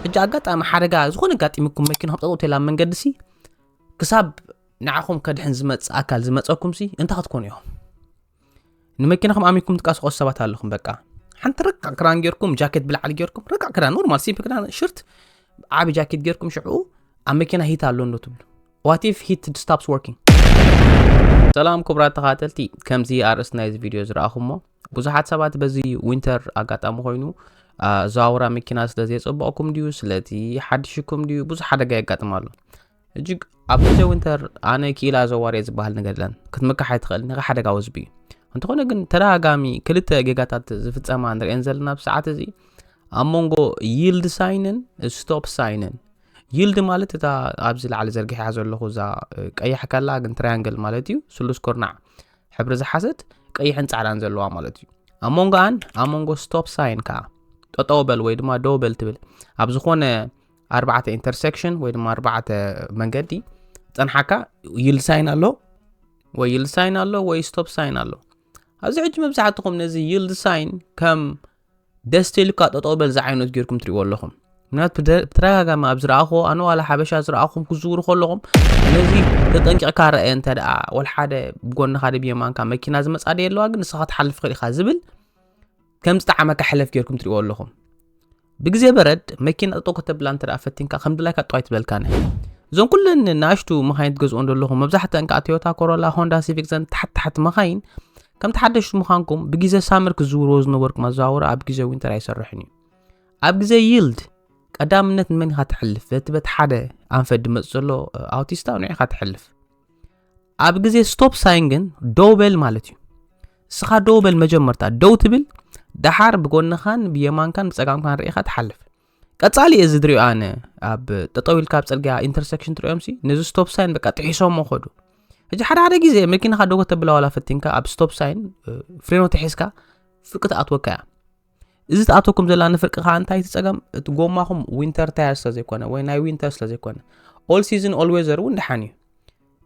ሕጂ ኣጋጣሚ ሓደጋ ዝኾነ ኣጋጢሙኩም መኪናኹም ጠጠው ተላ ኣብ መንገዲ ሲ ክሳብ ንዓኹም ከድሕን ዝመፅእ ኣካል ዝመፀኩም ሲ እንታይ ክትኮኑ እዮም ንመኪናኹም ኣሚኩም ትቃስቆሱ ሰባት ኣለኹም በቃ ሓንቲ ረቃዕ ክዳን ጌርኩም ጃኬት ብላዕሊ ጌርኩም ረቃዕ ክዳን ኖርማል ሲምፕ ክዳን ሽርት ዓቢ ጃኬት ጌርኩም ሽዑ ኣብ መኪና ሂት ኣሎ እንዶ ትብሉ ዋት ኢፍ ሂት ስታፕስ ወርኪንግ ሰላም ክቡራት ተኻተልቲ ከምዚ ኣርእስቲ ናይዚ ቪድዮ ዝረኣኹሞ ብዙሓት ሰባት በዚ ዊንተር ኣጋጣሚ ኮይኑ ኣዘዋውራ መኪና ስለ ዘየፀበቕኩም ድዩ ስለቲ ሓድሽኩም ድዩ ብዙሕ ሓደጋ የጋጥም ኣሎ እጅግ ኣብ ግዜ ዊንተር ኣነ ክኢላ ኣዘዋርየ ዝበሃል ነገር የለን ክትምካሕ ኣይትኽእል ንኸ ሓደጋ ወዝቢ እዩ እንተኾነ ግን ተደጋጋሚ ክልተ ጌጋታት ዝፍፀማ ንሪአን ዘለና ኣብ ሰዓት እዚ ኣብ መንጎ ይልድ ሳይንን ስቶፕ ሳይንን ይልድ ማለት እታ ኣብዚ ላዕሊ ዘርጊሐያ ዘለኹ እዛ ቀያሕ ከላ ግን ትራያንግል ማለት እዩ ስሉስ ኩርናዕ ሕብሪ ዝሓዘት ቀይሕን ጻዕዳን ዘለዋ ማለት እዩ ኣብ ሞንጎኣን ኣብ ሞንጎ ስቶፕ ሳይን ከዓ ጠጠው በል ወይ ድማ ደው በል ትብል ኣብ ዝኾነ ኣርባዕተ ኢንተርሴክሽን ወይ ድማ ኣርባዕተ መንገዲ ፀንሓካ ይልድ ሳይን ኣሎ ወይ ይልድ ሳይን ኣሎ ወይ ስቶፕ ሳይን ኣሎ ኣብዚ ሕጂ መብዛሕትኹም ነዚ ይልድ ሳይን ከም ደስ ተልካ ጠጠው በል ዝዓይነቱ ጌርኩም ትሪእዎ ኣለኹም ምክንያቱ ብተደጋጋሚ ኣብ ዝረኣኹዎ ኣነ ዋላ ሓበሻ ዝረኣኹም ክዝውሩ ከለኹም ነዚ ተጠንቂቕካ ረአየ እንተ ደኣ ወል ሓደ ብጎንኻ ደ ብየማንካ መኪና ዝመፃ ደ ኣለዋ ግን ንስኻ ትሓልፍ ኽእል ኢኻ ዝብል ከም ዝጠዓመካ ሕለፍ ጌርኩም ትሪእዎ ኣለኹም ብግዜ በረድ መኪና ጠጠው ከተብላ እንተ ደኣ ፈቲንካ ከም ድላይካ ጠዋይ ትበልካነ እዞም ኩለን ንኣሽቱ መኻይን ትገዝኦ ዘለኹም መብዛሕተን ከዓ ቶዮታ ኮሮላ ሆንዳ ሲቪክ ዘን ታሕቲ ታሕቲ መኻይን ከምቲ ሓደሽቲ ምዃንኩም ብግዜ ሳመር ክዝውርዎ ዝነበርኩ መዘዋወሪ ኣብ ግዜ ዊንተር ኣይሰርሕን እዩ ኣብ ግዜ ይልድ ቀዳምነት ንመን ኢኻ ትሕልፍ በቲ በቲ ሓደ ኣንፈት ድመፅ ዘሎ ኣውቲስታ ንዕ ኢኻ ትሕልፍ ኣብ ግዜ ስቶፕ ሳይን ግን ደው በል ማለት እዩ እስኻ ደው በል መጀመርታ ደው ትብል ደሓር ብጎንኻን ብየማንካን ብፀጋምካን ርኢኻ ትሓልፍ ቀጻሊ እየ ዝድሪኦ ኣነ ኣብ ጠጠው ኢልካ ኣብ ፅርግያ ኢንተርሴክሽን ትሪኦም ሲ ነዚ ስቶፕ ሳይን በቃ ጥሒሶሞ ኸዱ ሕጂ ሓደ ሓደ ግዜ መኪናኻ ደጎ ተብላ ዋላ ፈቲንካ ኣብ ስቶፕ ሳይን ፍሬኖ ተሒዝካ ፍርቂ ትኣትወካ እያ እዚ ትኣተኩም ዘላ ንፍርቂ ከዓ እንታይ እቲ ፀገም እቲ ጎማኹም ዊንተር ታየር ስለዘይኮነ ወይ ናይ ዊንተር ስለዘይኮነ ኦል ሲዝን ኦል ዌዘር እውን ደሓን እዩ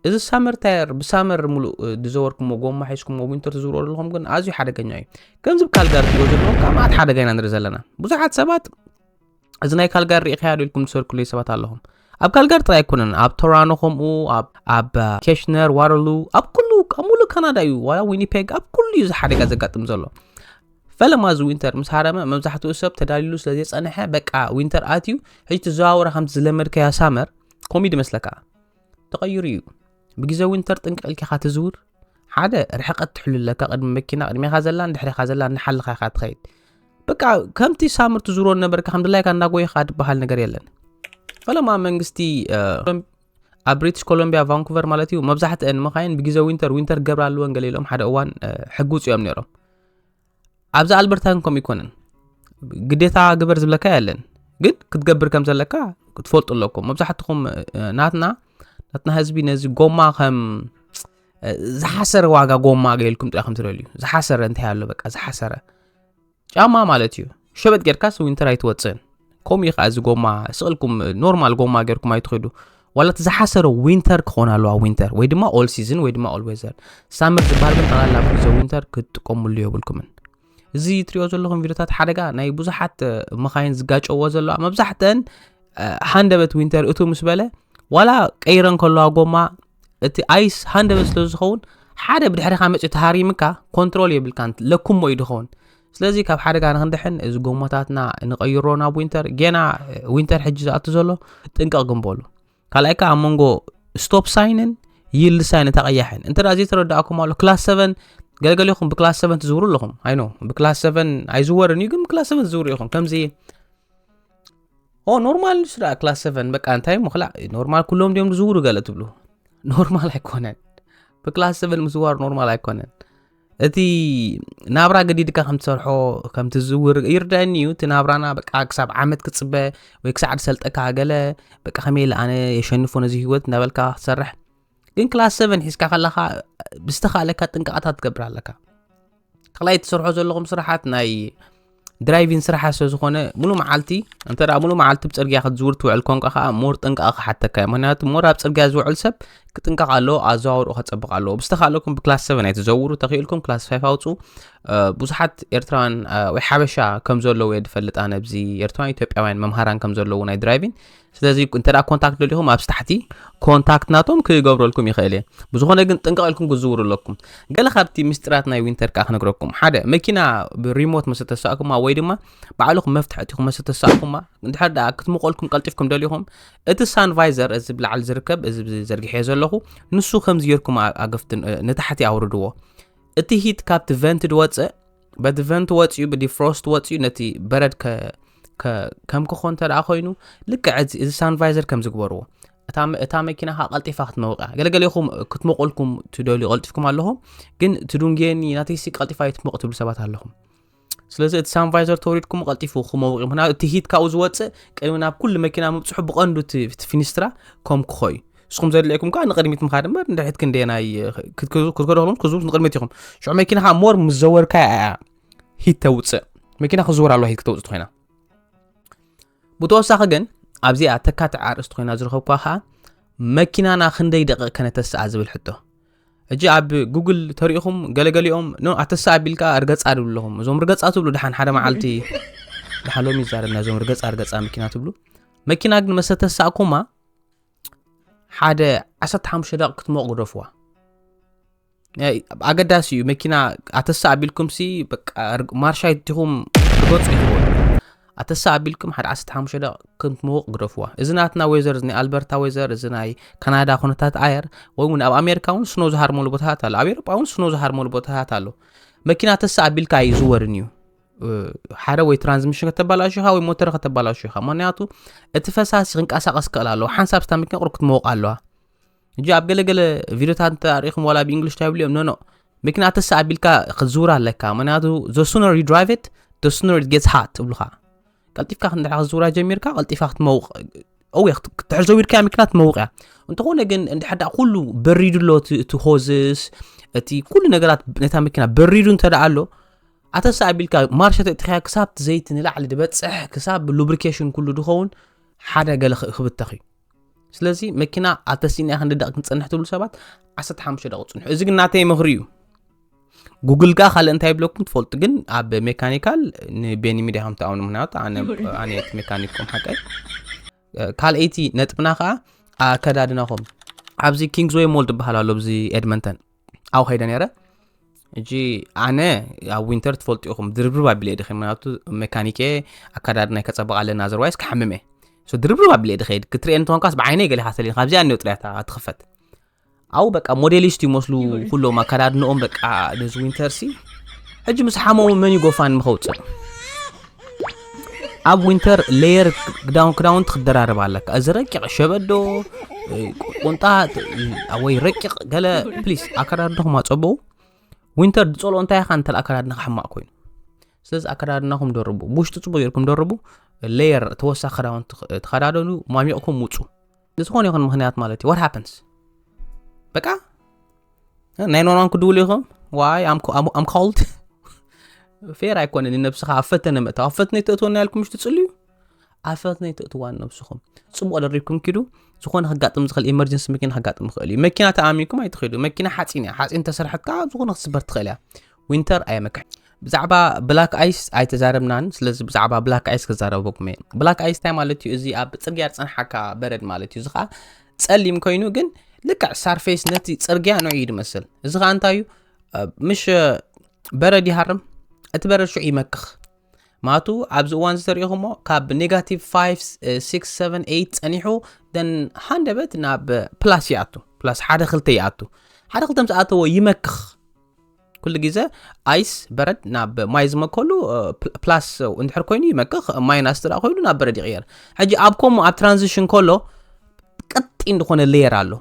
እዚ ሳመር ታየር ብሳመር ሙሉእ ዝዘወርኩሞ ጎማ ሒዝኩሞ ዊንተር ትዝብሮ ዘለኹም ግን ኣዝዩ ሓደገኛ እዩ ከምዚ ካልጋሪ ትብሎ ዘለኹም ካብ መዓት ሓደጋ ኢና ንርኢ ዘለና ብዙሓት ሰባት እዚ ናይ ካልጋሪ ርኢኸያ ዶ ኢልኩም ትሰርኩለይ ሰባት ኣለኹም ኣብ ካልጋሪ ጥራይ ኣይኮነን ኣብ ቶራኖ ከምኡ ኣብ ኬሽነር ዋረሉ ኣብ ኩሉ ኣብ ሙሉእ ካናዳ እዩ ዋላ ዊኒፔግ ኣብ ኩሉ እዩ እዚ ሓደጋ ዘጋጥም ዘሎ ፈለማ እዚ ዊንተር ምስ ሃረመ መብዛሕትኡ ሰብ ተዳልሉ ስለ ዘይፀንሐ በቃ ዊንተር ኣትዩ ሕጂ ትዘዋወረ ከምቲ ዝለመድከያ ሳመር ኮሚድ መስለካ ተቐይሩ እዩ ብግዜ ዊንተር ጥንቅቕ ኢልካ ትዝውር ሓደ ርሕቀት ትሕሉ ኣለካ ቅድሚ መኪና ቅድሜኻ ዘላን ድሕሬኻ ዘላን እናሓልኻ ኢኻ ትኸይድ በቃ ከምቲ ሳምር ትዝሮ ነበርካ ከም ድላይካ እናጎይኻ ትበሃል ነገር የለን ፈለማ መንግስቲ ኣብ ብሪቲሽ ኮሎምቢያ ቫንኩቨር ማለት እዩ መብዛሕትአን መኻይን ብግዜ ዊንተር ዊንተር ገብራ ኣለወን ገለ ኢሎም ሓደ እዋን ሕጉፅ እዮም ነይሮም ኣብዚ ኣልበርታን ከምኡ ኣይኮነን ግዴታ ግበር ዝብለካ የለን ግን ክትገብር ከም ዘለካ ክትፈልጡ ኣለኩም መብዛሕትኹም ናትና ናትና ህዝቢ ነዚ ጎማ ከም ዝሓሰረ ዋጋ ጎማ ገይልኩም ጥራኹም ትደልዩ ዝሓሰረ እንታይ ኣሎ በቃ ዝሓሰረ ጫማ ማለት እዩ ሸበጥ ጌርካስ ዊንተር ኣይትወፅእን ከምኡ እዩ ከዓ እዚ ጎማ ስቕ ኢልኩም ኖርማል ጎማ ጌርኩም ኣይትኸዱ ዋላ እቲ ዝሓሰረ ዊንተር ክኾን ኣለዋ ዊንተር ወይ ድማ ኦል ሲዝን ወይ ድማ ኦል ዌዘር ሳመር ዝበሃል ግን ጠቕላላ ኣብ ግዜ ዊንተር ክትጥቀምሉ የብልኩምን እዚ እትሪኦ ዘለኹም ቪድዮታት ሓደጋ ናይ ብዙሓት መኻይን ዝጋጨዎ ዘለዋ መብዛሕተን ሃንደበት ዊንተር እቱ ምስ በለ ዋላ ቀይረን ከለዋ ጎማ እቲ ኣይስ ሃንደበት ስለ ዝኸውን ሓደ ብድሕሪኻ መፅኡ ተሃሪምካ ኮንትሮል የብልካን ለኩሞ እዩ ድኸውን ስለዚ ካብ ሓደጋ ንክንድሕን እዚ ጎማታትና ንቀይሮ ናብ ዊንተር ጌና ዊንተር ሕጂ ዝኣቱ ዘሎ ጥንቀቕ ግንበሉ ካልኣይ ከዓ ኣብ መንጎ ስቶፕ ሳይንን ይልድ ሳይን እታ ቀያሕን እንተ ዘይተረዳእኩም ኣሎ ክላስ ሰቨን ገለገሊኹም ብክላስ ሰቨን ትዝውሩ ኣለኹም ኣይኖ ብክላስ ሰቨን ኣይዝወርን እዩ ግን ብክላስ ሰቨን ትዝውሩ ኢኹም ከምዚ ኦ ኖርማል ንሱ ደኣ ክላስ ሰቨን በቃ እንታይ እሞ ክላእ ኖርማል ኩሎም ድዮም ዝዝውሩ ገለ ትብሉ ኖርማል ኣይኮነን ብክላስ ሰቨን ምዝዋር ኖርማል ኣይኮነን እቲ ናብራ ገዲድካ ከም ትሰርሖ ከም ትዝውር ይርዳእኒ እዩ እቲ ናብራና በቃ ክሳብ ዓመት ክፅበ ወይ ክሳዕ ዝሰልጠካ ገለ በቃ ከመይ ኢለ ኣነ የሸንፎ ነዚ ህይወት እናበልካ ክትሰርሕ ግን ክላስ ሰቨን ሒዝካ ከለካ ብዝተካለካ ጥንቃቐታት ትገብር ኣለካ ካልኣይ ትሰርሖ ዘለኹም ስራሓት ናይ ድራይቪን ስራሓ ስለ ዝኾነ ሙሉ መዓልቲ እንተ ሙሉ መዓልቲ ብ ጽርግያ ክትዝውር ትውዕል ኮንካ ከኣ ሞር ጥንቃቐ ክሓተካ እዩ ምክንያቱ ሞር ኣብ ጽርግያ ዝውዕል ሰብ ክጥንቀቕ ኣለዎ ኣዘዋውርኡ ከጸብቕ ኣለዎ ብዝተኻለኩም ብክላስ 7 ኣይትዘውሩ ተኽኢልኩም ክላስ 5 ኣውፁ ብዙሓት ኤርትራውያን ወይ ሓበሻ ከም ዘለዉ እየ ዝፈልጥ ኣነ ኣብዚ ኤርትራውያን ኢትዮጵያውያን መምሃራን ከም ዘለዉ ናይ ድራይቪን ስለዚ እንተ ኮንታክት ደሊኹም ኣብዚ ታሕቲ ኮንታክት ናቶም ክገብረልኩም ይኽእል እየ ብዝኾነ ግን ጥንቀቕ ኢልኩም ክዝውሩ ኣለኩም ገለ ካብቲ ምስጢራት ናይ ዊንተር ከዓ ክነግረኩም ሓደ መኪና ብሪሞት መስ ተሳእኩማ ወይ ድማ ባዕልኹም መፍትሒ እትኹም መስ ተሳእኩማ እንድሕር ደኣ ክትምቆልኩም ቀልጢፍኩም ደሊኹም እቲ ሳንቫይዘር እዚ ብላዕሊ ዝርከብ እዚ ዘርግሐዮ ዘለኹ ንሱ ከምዚ ጌርኩም ኣገፍትን ንታሕቲ ኣውርድዎ እቲ ሂት ካብቲ ቨንት ድወፅእ በቲ ቨንት ወፅኡ ብዲፍሮስት ወፅኡ ነቲ በረድ ከም ክኾ እንተ ኮይኑ ልክዕ እዚ ሳንቫይዘር ከም ዝግበርዎ እታ መኪና ካ ቀልጢፋ ክትመውቅ እያ ገለገሌኹም ክትመቁልኩም ትደልዩ ቀልጢፍኩም ኣለኹም ግን ትዱንጌኒ ናተይሲ ቀልጢፋ የትመቁ ትብሉ ሰባት ኣለኹም ስለዚ እቲ ሳንቫይዘር ተወሪድኩም ቀልጢፉ ክመውቅ ምክንያቱ እቲ ሂት ካብኡ ዝወፅእ ቅድሚ ናብ ኩሉ መኪና ምብፅሑ ብቀንዱ እቲ ፊኒስትራ ከም ክኾ እዩ ንስኹም ዘድልየኩም ከዓ ንቅድሚት ምካድ እምበር ንድሕሪት ክንደየናይ ክትከደክሉም ክዝቡት ንቅድሚት ኢኹም ሽዑ መኪና ከዓ ሞር ምስ ዘወርካ እያ ሂት ተውፅእ መኪና ክዝወር ኣለዋ ሂት ክተውፅእ ኮይና ብተወሳኺ ግን ኣብዚኣ ተካትዕ ኣርእስቲ ኮይና ዝረኸብኳ ከዓ መኪናና ክንደይ ደቂቕ ከነተስኣ ዝብል ሕቶ እጂ ኣብ ጉግል ተሪኢኹም ገለገሊኦም ኖ ኣተሳ ኣቢልካ ርገፃ ድብሉ ኣለኹም እዞም ርገፃ ትብሉ ድሓን ሓደ መዓልቲ ድሓን ሎሚ ይዛረብና እዞም ርገፃ ርገፃ መኪና ትብሉ መኪና ግን መሰተሳእኩማ ሓደ 15 ደቂ ክትሞቕ ግደፍዋ ኣገዳሲ እዩ መኪና ኣተሳ ኣቢልኩም ሲ ማርሻ ይትኹም ርገፁ ይትዎ ኣተሳ ኣቢልኩም ሓደ 15 ደቂ ክትሞቕ ግደፍዋ እዚ ናትና ወይዘር እዚ ናይ ኣልበርታ ወይዘር እዚ ናይ ካናዳ ኩነታት ኣየር ወይ እውን ኣብ ኣሜሪካ እውን ስኖ ዝሃርመሉ ቦታታት ኣሎ ኣብ ኤሮጳ እውን ስኖ ዝሃርመሉ ቦታታት ኣሎ መኪና ተሳ ኣቢልካ ኣይዝወርን እዩ ሓደ ወይ ትራንስሚሽን ከተባላሹ ኢኻ ወይ ሞተር ከተባላሹ ኢኻ ምክንያቱ እቲ ፈሳሲ ክንቀሳቀስ ክእል ኣለዎ ሓንሳብ ስታ መኪና ቁርብ ክትመወቕ ኣለዋ እጂ ኣብ ገለገለ ቪድዮታት እንተ ኣሪኢኹም ዋላ ብእንግሊሽ እንታይ ይብሉ እዮም ኖኖ መኪና ተሳ ኣቢልካ ክትዝውር ኣለካ ምክንያቱ ዘሱነር ዩ ድራይቭ ት ዘሱነር ጌትስ ሃት ትብሉኻ ቀልጢፍካ ክንድሕ ክትዝውራ ጀሚርካ ቀልጢፋ ክትመውቕ እወ ክትድሕር ዘዊርካያ መኪና ትመውቕ እያ እንተኾነ ግን እንድሕዳ ኩሉ በሪዱ ኣሎ እቲ ሆዝስ እቲ ኩሉ ነገራት ነታ መኪና በሪዱ እንተ ኣሎ ኣተስ ኣቢልካ ማርሸ ተእትኸያ ክሳብ እቲ ዘይቲ ንላዕሊ ድበፅሕ ክሳብ ሉብሪኬሽን ኩሉ ድኸውን ሓደ ገለ ክብተኽ እዩ ስለዚ መኪና ኣብ ተሲእና ክንዲ ደቂ ክንፀንሕ ትብሉ ሰባት 15 ደቂ ፅንሑ እዚ ግን ናተይ ምኽሪ እዩ ጉግል ከ ካልእ እንታይ ብለኩም ትፈልጡ ግን ኣብ ሜካኒካል ንቤኒ ሚድያ ከም ትኣምኑ ምክንያቱ ኣነ እቲ ሜካኒክኩም ሓቀይ ካልኣይቲ ነጥብና ከዓ ኣከዳድናኹም ኣብዚ ኪንግስወይ ሞል ትበሃል ኣሎ ብዚ ኤድመንተን ኣብኡ ከይደ ነረ እጂ ኣነ ኣብ ዊንተር ትፈልጡ ኢኹም ድርብርብ ኣቢለ ድኸ ምክንያቱ ሜካኒክ እየ ኣካዳድና ከፀበቕ ኣለና ዘርዋይስ ክሓምም እየ ድርብርብ ኣቢለ ድኸይድ ክትርኤ እንትኾንካስ ብዓይነይ ገሊኻ ሰሊን ካብዚኣ እኒኦ ጥርያታ ትኽፈት ኣብኡ በቃ ሞዴሊስት ይመስሉ ኩሎም ኣካዳድንኦም በቃ ነዚ ዊንተር ሲ ሕጂ ምስ ሓመሙ መን ይጎፋን ምኸውፅእ ኣብ ዊንተር ሌየር ክዳውንቲ ክደራረብ ኣለካ እዚ ረቂቕ ሸበዶ ቁንጣ ወይ ረቂቕ ገለ ፕሊስ ኣከዳድንኹም ኣፀበው ዊንተር ዝፀልኦ እንታይ ኢኻ እንተ ኣከዳድና ክሕማቕ ኮይኑ ስለዚ ኣከዳድናኹም ደርቡ ብውሽጢ ፅቡቅ ጌርኩም ደርቡ ሌየር ተወሳኺ ክዳውንቲ ተኸዳደኑ ማሚቕኩም ውፁ ንዝኾነ ይኹን ምክንያት ማለት እዩ ዋት ሃፕንስ በቃ ናይ ኖርማን ክድውሉ ኢኹም ዋይ ኣም ኮልድ ፌር ኣይኮነን ንነብስኻ ኣብ ፈተነ ምእታው ኣብ ፈትነ ተእትወና ያልኩም ምሽ ትፅልዩ ኣብ ፈትነ ተእትዋ ነብስኹም ፅቡቅ ደሪብኩም ኪዱ ዝኾነ ከጋጥም ዝኽእል ኤመርጀንሲ መኪና ከጋጥም ይኽእል እዩ መኪና ተኣሚንኩም ኣይትኸዱ መኪና ሓፂን እያ ሓፂን ተሰርሐት ከዓ ዝኾነ ክትስበር ትኽእል እያ ዊንተር ኣየመክሕን ብዛዕባ ብላክ ኣይስ ኣይተዛረብናን ስለዚ ብዛዕባ ብላክ ኣይስ ክዛረበኩም እየ ብላክ ኣይስ እንታይ ማለት እዩ እዚ ኣብ ፅርግያ ዝፀንሓካ በረድ ማለት እዩ እዚ ከዓ ፀሊም ኮይኑ ግን ልክዕ ሳርፌስ ነቲ ፅርግያ ንዑ እዩ ዝመስል እዚ ከዓ እንታይ እዩ ምሽ በረድ ይሃርም እቲ በረድ ሽዑ ይመክኽ ማቱ ኣብዚ እዋን ዝተሪኢኹሞ ካብ ኔጋቲቭ 5678 ፀኒሑ ደን ሃንደበት ናብ ፕላስ ይኣቱ ፕላስ ሓደ ክልተ ይኣቱ ሓደ ክልተ ምስ ኣተዎ ይመክኽ ኩሉ ግዜ ኣይስ በረድ ናብ ማይ ዝመከሉ ፕላስ እንድሕር ኮይኑ ይመክኽ ማይናስ ትዳ ኮይኑ ናብ በረድ ይቕየር ሕጂ ኣብ ከምኡ ኣብ ትራንዚሽን ከሎ ቀጢ ዝኾነ ሌየር ኣሎ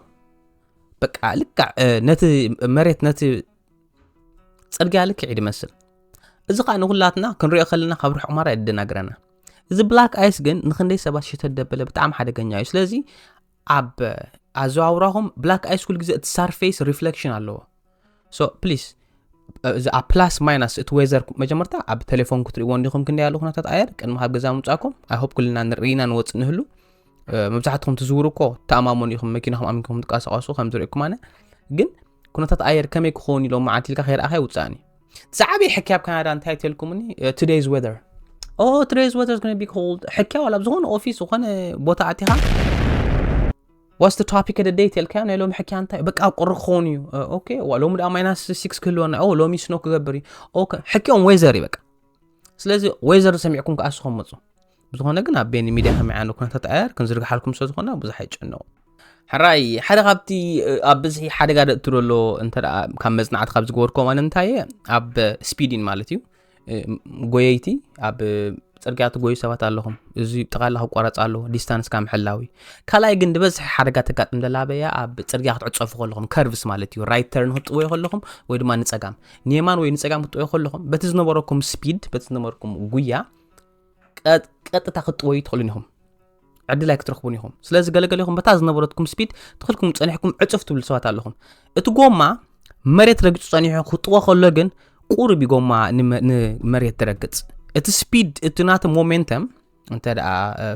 በቃ ልክዕ ነቲ መሬት ነቲ ፅርግያ ልክዕ ይድመስል እዚ ከዓ ንኩላትና ክንሪኦ ከለና ካብ ርሑቕ ማራ የደናግረና እዚ ብላክ ኣይስ ግን ንክንደይ ሰባት ሽተት ደበለ ብጣዕሚ ሓደገኛ እዩ ስለዚ ኣብ ኣዘዋውራኹም ብላክ ኣይ ስኩል ግዜ እቲ ሳርፌስ ሪፍሌክሽን ኣለዎ ሶ ፕሊስ እዚ ኣብ ፕላስ ማይናስ እቲ ወዘር መጀመርታ ኣብ ቴሌፎን ክትሪእዎ እንዲኹም ክንደይ ያሉ ኩነታት ኣየር ቅድሚ ካብ ገዛ ምውፃእኩም ኣይሆፕ ኩልና ንርኢና ንወፅእ ንህሉ መብዛሕትኹም ትዝውሩ እኮ ተኣማመኑ ኢኹም መኪናኹም ኣሚንኩም ትንቀሳቀሱ ከምዝርእኩም ኣነ ግን ኩነታት ኣየር ከመይ ክኸውን ኢሎ መዓልቲ ኢልካ ከይረኣኻ ይውፃእን እዩ ዝዓበየ ሕኪ ኣብ ካናዳ እንታይ ተልኩምኒ ቱደይዝ ወዘር ኦ ቱደይዝ ወዘር ዝኮነ ቢ ኮልድ ሕኪ ዋላ ኣብ ዝኾነ ኦፊስ ዝኾነ ቦታ ኣቲኻ ዋስ ቶፒክ ደ ደይ ተልካዮ ናይ ሎሚ ሕኪያ እንታይ በቃ ቁሪ ክኸውን እዩ ኦኬ ሎሚ ድኣ ማይናስ ሲክስ ክህልወና ኦ ሎሚ ስኖ ክገብር እዩ ኦኬ ሕኪኦም ወይዘር እዩ በቃ ስለዚ ወይዘር ሰሚዕኩም ከዓ ስኹም ምፁ ብዝኾነ ግን ኣብ ቤኒ ሚድያ ከመይ ዓይነት ኩነታት ኣየር ክንዝርግሓልኩም ስለ ዝኾና ብዙሕ ኣይጨነቑ ሕራይ ሓደ ካብቲ ኣብ ብዝሒ ሓደጋ ደእቱ ደሎ እንተ ካብ መፅናዕቲ ካብ ዝገበርኮ ማለት እንታይ እየ ኣብ ስፒዲን ማለት እዩ ጎየይቲ ኣብ ፅርግያ ትጎዩ ሰባት ኣለኹም እዚ ጠቓላ ክቋረፅ ኣለዎ ዲስታንስካ ምሕላዊ ካልኣይ ግን ዝበዝሐ ሓደጋ ተጋጥም ዘላ በያ ኣብ ፅርግያ ክትዕፀፉ ከለኹም ከርቭስ ማለት እዩ ራይት ተርን ክትጥወዩ ከለኹም ወይ ድማ ንፀጋም ንየማን ወይ ንፀጋም ክትጥወዩ ከለኹም በቲ ዝነበረኩም ስፒድ በቲ ዝነበረኩም ጉያ ቀጥታ ክትጥወዩ ትኽእሉን ኢኹም ዕድል ኣይክትረኽቡን ኢኹም ስለዚ ገለገለኹም በታ ዝነበረትኩም ስፒድ ትኽልኩም ፀኒሕኩም ዕፅፍ ትብሉ ሰባት ኣለኹም እቲ ጎማ መሬት ረግፁ ፀኒሑ ክጥዎ ከሎ ግን ቁርብ ጎማ ንመሬት ትረግፅ እቲ ስፒድ እቲ ናቲ ሞሜንተም እንተ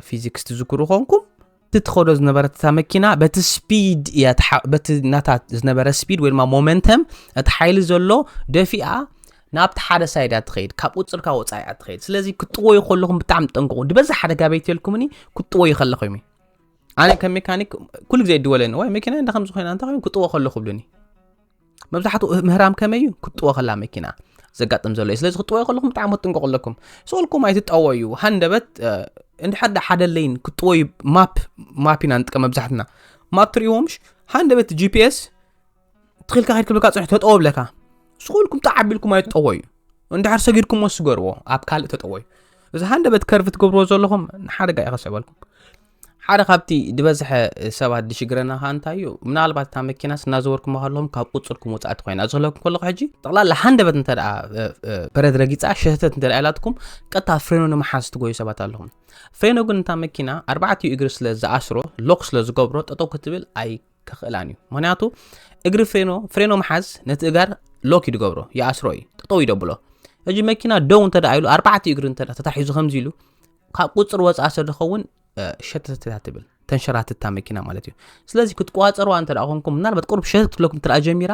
ፊዚክስ ትዝክሩ ኮንኩም እቲ ትኸዶ ዝነበረት እታ መኪና በቲ ስፒድ እያ በቲ ናታ ዝነበረ ስፒድ ወይ ድማ ሞመንተም እቲ ሓይሊ ዘሎ ደፊኣ ናብቲ ሓደ ሳይድ እያ ትኸይድ ካብ ቁፅርካ ወፃኢ እያ ትኸይድ ስለዚ ክጥወዩ ከለኹም ብጣዕሚ ጠንቅቑ ድበዛ ሓደ ጋበይትልኩምኒ ክጥወዩ ከለኹ ዩ ኣነ ከም ሜካኒክ ኩሉ ግዜ ድወለኒ ወይ መኪና እንዳ ከምዚ ኮይና እንታይ ኮይኑ ክጥወ ከለኹ ብሉኒ መብዛሕትኡ ምህራም ከመይ እዩ ክትጥወ ከላ መኪና ዘጋጥም ዘሎ እዩ ስለዚ ክትጠወዩ ከለኹም ብጣዕሚ ክትጥንቀቑ ኣለኩም ስልኩም ኣይትጠወዩ ሃንደበት እንድሕር ዳ ሓደ ለይን ክትጠወዩ ማፕ ማፕ ኢና ንጥቀም መብዛሕትና ማፕ ትርእዎምሽ ሃንደበት ጂፒኤስ ትኽልካ ከይድ ክብልካ ፅንሕ ተጠወ ብለካ ስልኩም ተዓቢልኩም ኣይትጠወዩ እንድሕር ሰጊድኩም ወስገርዎ ኣብ ካልእ ተጠወዩ እዚ ሃንደበት ከርፊ ትገብርዎ ዘለኹም ንሓደጋ ይኸሰበልኩም ሓደ ካብቲ ዝበዝሐ ሰባት ዝሽግረና ከዓ እንታይ እዩ ምናልባት እታ መኪናስ እናዘወርኩም ከለኹም ካብ ቁፅርኩም ወፃእቲ ኮይና እዚ ክለኩም ከለኹ ሕጂ ጠቕላላ ሃንደበት እንተ ደኣ በረድ ረጊፃ ሸተት እንተ ደኣ ኢላትኩም ቀጥታ ፍሬኖ ንምሓዝ ትጎዩ ሰባት ኣለኹም ፍሬኖ ግን እታ መኪና ኣርባዕትኡ እግሪ ስለ ዝኣስሮ ሎክ ስለ ዝገብሮ ጠጠው ክትብል ኣይ ከኽእላን እዩ ምክንያቱ እግሪ ፍሬኖ ፍሬኖ ምሓዝ ነቲ እጋር ሎክ እዩ ዝገብሮ ይኣስሮ እዩ ጠጠው ይደብሎ ሕጂ መኪና ደው እንተ ደኣ ኢሉ ኣርባዕትኡ እግሪ እንተ ተታሒዙ ከምዚ ኢሉ ካብ ቁፅር ወፃእ ስለዝኸውን ሸተተታ ትብል ተንሸራትታ መኪና ማለት እዩ ስለዚ ክትቋፀርዋ እንተ ኮንኩም ምናልባት ቁርብ ሸተት ክለኩም እንተ ጀሚራ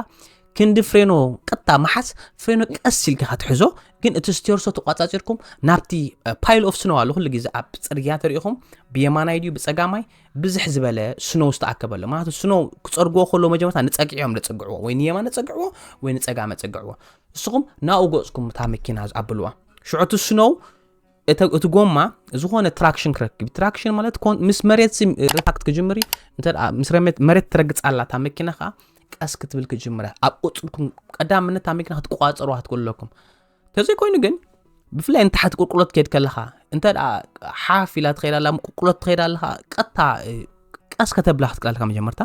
ክንዲ ፍሬኖ ቀጥታ መሓዝ ፍሬኖ ቀስ ኢልካ ክትሕዞ ግን እቲ ስቴርሶ ተቋፃፂርኩም ናብቲ ፓይል ኦፍ ስኖው ኣሎ ኩሉ ግዜ ኣብ ፅርግያ ተሪኢኹም ብየማናይ ድዩ ብፀጋማይ ብዝሕ ዝበለ ስኖው ዝተኣከበለ ማለት ስኖው ክፀርግዎ ከሎ መጀመርታ ንፀግዒ እዮም ዘፀግዕዎ ወይ ንየማነ ፀግዕዎ ወይ ንፀጋመ ፀግዕዎ ንስኹም ናብኡ ገፅኩም እታ መኪና ዝኣብልዋ ሽዑ እቲ ስኖው እቲ ጎማ ዝኾነ ትራክሽን ክረክብ ትራክሽን ማለት ምስ መሬት ሪታክት ክጅምር ምስ መሬት ትረግፅ ኣላ እታ መኪና ከዓ ቀስ ክትብል ክጅምረ ኣብ ቁፅልኩም ቀዳምነት እታ መኪና ክትቋፀሩ ክትኮለኩም ተዘይኮይኑ ግን ብፍላይ ንታሕቲ ቁልቁሎት ከድ ከለኻ እንተ ሓፍ ኢላ ትኸይድ ኣላ ቁልቁሎት ትኸይድ ኣለኻ ቀጥታ ቀስ ከተብላ ክትክእል ኣለካ መጀመርታ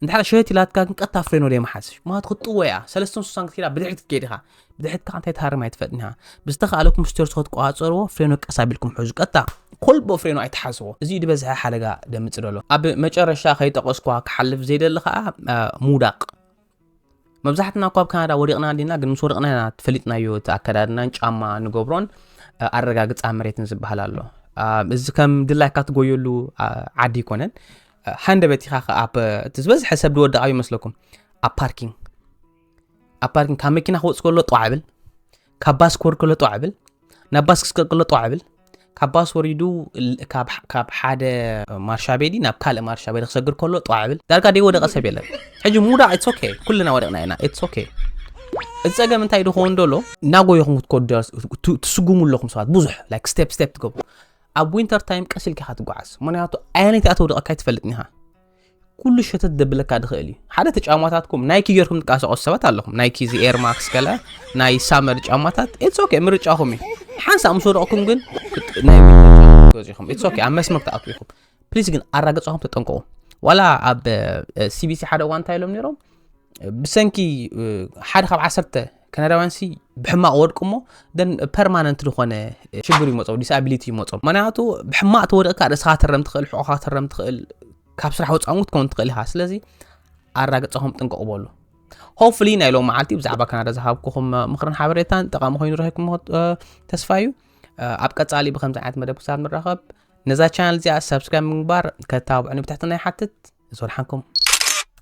እንድሕር ሸየት ኢላትካ ግን ቀጥታ ፍሬኖ ደይ መሓዝሽ ምክንያቱ ክትጥወያ ሰለስተን ስሳን ክትከዳ ብድሕሪት ክትከይድ ኢኻ ብድሕሪት ከዓ እንታይ ትሃርም ኣይትፈጥን እያ ብዝተኸኣለኩም ስቴር ስኮት ቆፃፀርዎ ፍሬኖ ቀስ ኣቢልኩም ሕዙ ቀጥታ ኮልቦ ፍሬኖ ኣይትሓዝዎ እዚ ዝበዝሐ ሓደጋ ደምፅ ደሎ ኣብ መጨረሻ ከይጠቐስኳ ክሓልፍ ዘይደሊ ከዓ ምውዳቕ መብዛሕትና እኳ ኣብ ካናዳ ወዲቕና እንዲና ግን ምስ ወደቕና ኢና ፈሊጥናዮ እቲ ኣከዳድናን ጫማ ንገብሮን ኣረጋግፃ መሬትን ዝበሃል ኣሎ እዚ ከም ድላይካ ትጎየሉ ዓዲ ኣይኮነን ሃንደበት ኢኻ እቲ ዝበዝሐ ሰብ ዝወደቓ ይመስለኩም ኣብ ፓርኪንግ ኣብ ፓርኪንግ ካብ መኪና ክወፅ ከሎ ጠዋ ዕብል ካብ ባስ ክወርድ ከሎ ጠዋ ዕብል ናብ ባስ ክስቀል ከሎ ጠዋ ዕብል ካብ ባስ ወሪዱ ካብ ሓደ ማርሻ ቤዲ ናብ ካልእ ማርሻ ቤዲ ክሰግር ከሎ ጠዋ ዕብል ዳርጋ ደይ ወደቐ ሰብ የለን ሕጂ ምውዳቕ ኢትስ ኦኬ ኩልና ወደቕና ኢና ኢትስ ኦኬ እዚ ፀገም እንታይ ድኸውን ደሎ እናጎየኹም ክትከዱ ትስጉሙ ኣለኹም ሰባት ብዙሕ ላይክ ስቴፕ ስቴፕ ትገብሩ ኣብ ዊንተር ታይም ቀስ ኢልካ ኢኻ ትጓዓዝ ምክንያቱ ኣየነይቲ ኣተውደቐካ ኣይትፈልጥን ኢኻ ኩሉ ሸተት ደብለካ ድኽእል እዩ ሓደ እቲ ጫማታትኩም ናይኪ ጌርኩም ትንቀሳቀሱ ሰባት ኣለኹም ናይኪ እዚ ኤርማክስ ገለ ናይ ሳመር ጫማታት ኢትስ ኦኬ ምርጫኹም እዩ ሓንሳእ ምስ ወደቕኩም ግን ናይ ገዚኹም ኢትስ ኦኬ ኣብ መስመር ትኣትዉ ኢኹም ፕሊዝ ግን ኣራገጻኹም ተጠንቀቑ ዋላ ኣብ ሲቢሲ ሓደ እዋን እንታይ ኢሎም ነይሮም ብሰንኪ ሓደ ካብ ዓሰርተ ካናዳውያን ሲ ብሕማቕ ወድቁ እሞ ደን ፐርማነንት ዝኾነ ሽግር ይመፆ ዲስኣብሊቲ ይመፆ ምክንያቱ ብሕማቕ ተወደቕካ ርእስኻ ትረም ትኽእል ሕቆኻ ትረም ትኽእል ካብ ስራሕ ወፃውን ክትከውን ትኽእል ኢኻ ስለዚ ኣራግፀኹም ጥንቀቑ በሉ ሆፍሊ ናይ ሎም መዓልቲ ብዛዕባ ካናዳ ዝሃብኩኹም ምክርን ሓበሬታን ጠቓሚ ኮይኑ ረኪብኩም ተስፋ እዩ ኣብ ቀፃሊ ብከምዚ ዓይነት መደብ ክሳብ ንራኸብ ነዛ ቻናል እዚኣ ሰብስክራይብ ምግባር ከተባብዑኒ ብትሕትና ይሓትት ንዝወልሓንኩም